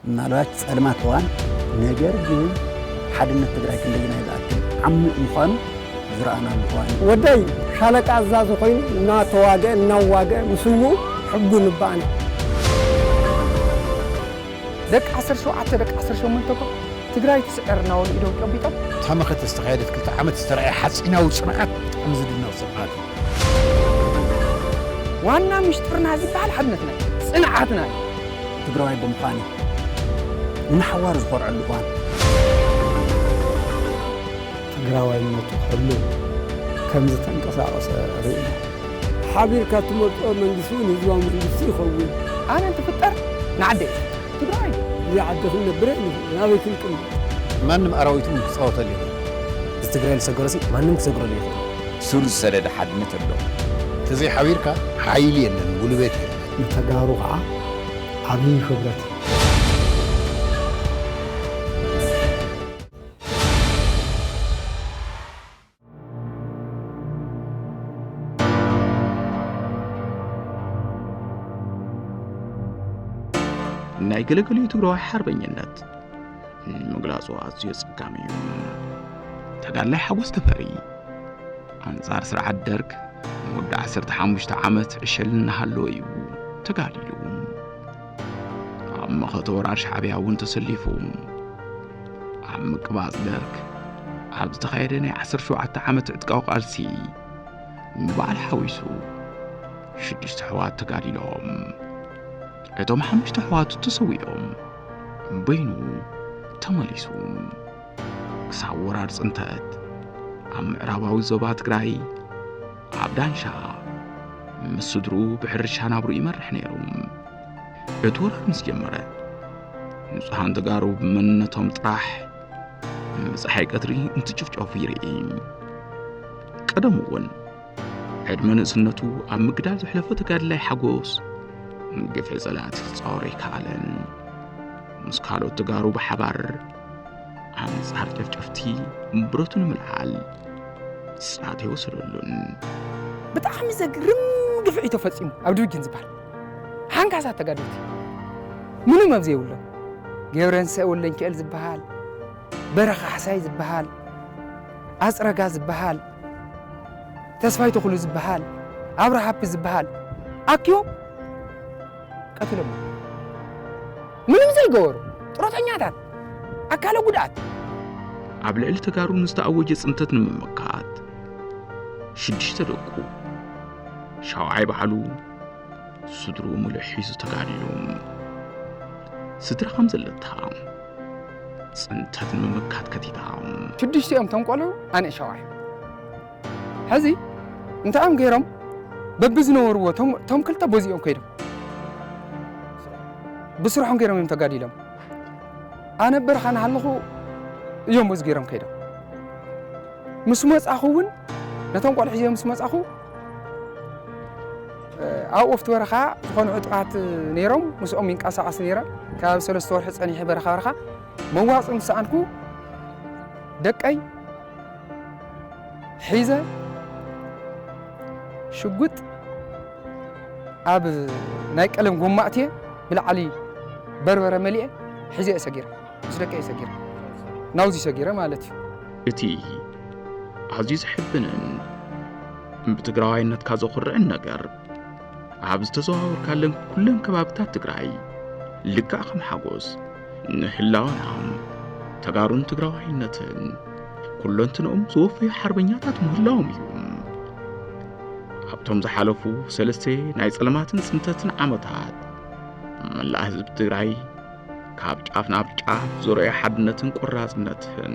ምናልባት ጸልማት እዋን ነገር ግን ሓድነት ትግራይ ክንደየናይ ዝኣክል ዓሚቕ ምዃኑ ዝረኣናሉ እዋን እዩ። ወደይ ሻለቃ ኣዛዚ ኮይኑ እናተዋግአ እናዋግአ ምስውኡ ሕጉን እባ ኣነ ደቂ ዓሰርተ ሸውዓተ ደቂ ዓሰርተ ሸሞንተ እኮ ትግራይ ትስዕር እናበሉ ኢዶም ጨቢጦም። እታ መኸተ ዝተኻየደት ክልተ ዓመት ዝተርኣየ ሓፂናዊ ፅንዓት ብጣዕሚ ዝድነቕ ፅንዓት እዩ። ዋና ሚስጥርና ዝበሃል ሓድነትና እዩ፣ ፅንዓትና እዩ። ትግራዋይ ብምዃነይ ንሓዋሩ ዝኾርዐሉ እዋን። ትግራዋይነቱ ሕሉፍ ከም ዝተንቀሳቐሰ ርኢና። ሓቢርካ እትመርጾ መንግስቲ እውን ህዝባዊ መንግስቲ ይኸውን። ኣነ እንትፍጠር ንዓደይ እየ ትግራዋይ እየ። እዛ ዓዲ ክንነብር ኣይንኽእልን ኣበይ ክንቅመጥ። ማንም ኣራዊት እውን ክጻወተሉ የብሉን። እዚ ትግራይ ዝሰገሮሲ ማንም ክሰግረሉ ኣይኽእልን። ሱር ዝሰደደ ሓድነት ኣሎ። ተዘይ ሓቢርካ ሓይሊ የለን ጉልበት የለን። ንተጋሩ ከዓ ዓብዪ ክብረት እዩ። ናይ ገለገሉ ትግራዋይ ሓርበኝነት ምግላጹ ኣዝዩ የጸጋሚ እዩ። ተጋድላይ ሓጎስ ተፈሪ ኣንጻር ስርዓት ደርግ ንወዲ 15 ዓመት ዕሸል እናሃለወ እዩ ተጋዲሉ። ኣብ መኸተ ወራር ሻዕብያ እውን ተሰሊፉ ኣብ ምቅባጽ ደርግ ኣብ ዝተኻየደ ናይ 17 ዓመት ዕጥቃዊ ቃልሲ ንበዓል ሓዊሱ ሽዱሽተ ኣሕዋት ተጋዲሎም እቶም ሓሙሽተ ኣሕዋቱ ተሰዊኦም በይኑ ተመሊሱ ክሳብ ወራር ጽንተት ኣብ ምዕራባዊ ዞባ ትግራይ ኣብ ዳንሻ ምስ ስድሩ ብሕርሻ ናብሩ ይመርሕ ነይሩ። እቲ ወራር ምስ ጀመረ ንጹሃን ተጋሩ ብመንነቶም ጥራሕ ብፀሓይ ቀትሪ እንትጭፍጨፉ ይርኢ። ቀደሙ እውን ዕድመ ንእስነቱ ኣብ ምግዳል ዘሕለፈ ተጋድላይ ሓጎስ ግፍዒ ጸላእቲ ክጻወሮ ኣይከኣለን። ምስ ካልኦት ተጋሩ ብሓባር ኣንጻር ጨፍጨፍቲ ብረቱ ንምልዓል ጻቴ ወሰደሉን ብጣዕሚ ዘግርም ግፍዒ ተፈፂሙ ኣብ ድብጊን ዝበሃል ሓንካሳት ተጋደልቲ ምኑ መብ ዘይብሎም ገብረንሰ ወለንኪኤል ዝበሃል በረኻ ሓሳይ ዝበሃል ኣፅረጋ ዝበሃል ተስፋይ ተኽሉ ዝበሃል ኣብረሃፒ ዝበሃል ኣኪቦም ቀትሎም ምንም ዘይገበሩ ጥሮተኛታት ኣካለ ጉድኣት። ኣብ ልዕሊ ተጋሩ ንዝተኣወጀ ጽንተት ንምምካት ሽዱሽተ ደቁ ሻውዓይ ባዕሉ ስድሩ ሙሉእ ሒዙ ተጋዲሉ ስድራ ከም ዘለታ ጽንተት ንምምካት ከቲታ ሽዱሽቲኦም ተንቆልዑ ኣነ ሻውዓይ ሕዚ እንታይ እዮም ገይሮም በብዝነበርዎ እቶም ክልተ ቦዚኦም ከይዶም ብስርሖም ገይሮም እዮም ተጋዲሎም ኣነ በረኻ ንሃለኹ እዮም እዚ ገይሮም ከይዶም ምስ መፃኹ እውን ነቶም ቆልዑ ሒዘ ምስ መፃኹ ኣብ ወፍቲ በረኻ ዝኾኑ ዕጡቓት ነይሮም ምስኦም ይንቀሳቐስ ነይረ ካብ ሰለስተ ወርሒ ፀኒሐ በረኻ በረኻ መዋፅእ ምስ ሰኣንኩ ደቀይ ሒዘ ሽጉጥ ኣብ ናይ ቀለም ጎማ እትየ ብላዕሊ በርበረ መሊኤ ሒዘ እየ ሰጊረ ምስ ደቂ እየ ሰጊረ ናብዚ ሰጊረ ማለት እዩ እቲ ኣዝዩ ዘሕብንን ብትግራዋይነትካ ዘኹርዕን ነገር ኣብ ዝተዘዋወርካለን ኩለን ከባብታት ትግራይ ልክዕ ከም ሓጎስ ንህላወና ተጋሩን ትግራዋይነትን ኩለንትንኦም ዝወፈዩ ሓርበኛታት ምህላዎም እዩ ካብቶም ዝሓለፉ ሰለስተ ናይ ጸለማትን ጽንተትን ዓመታት መላእ ህዝቢ ትግራይ ካብ ጫፍ ናብ ጫፍ ዞረዮ ሓድነትን ቆራጽነትን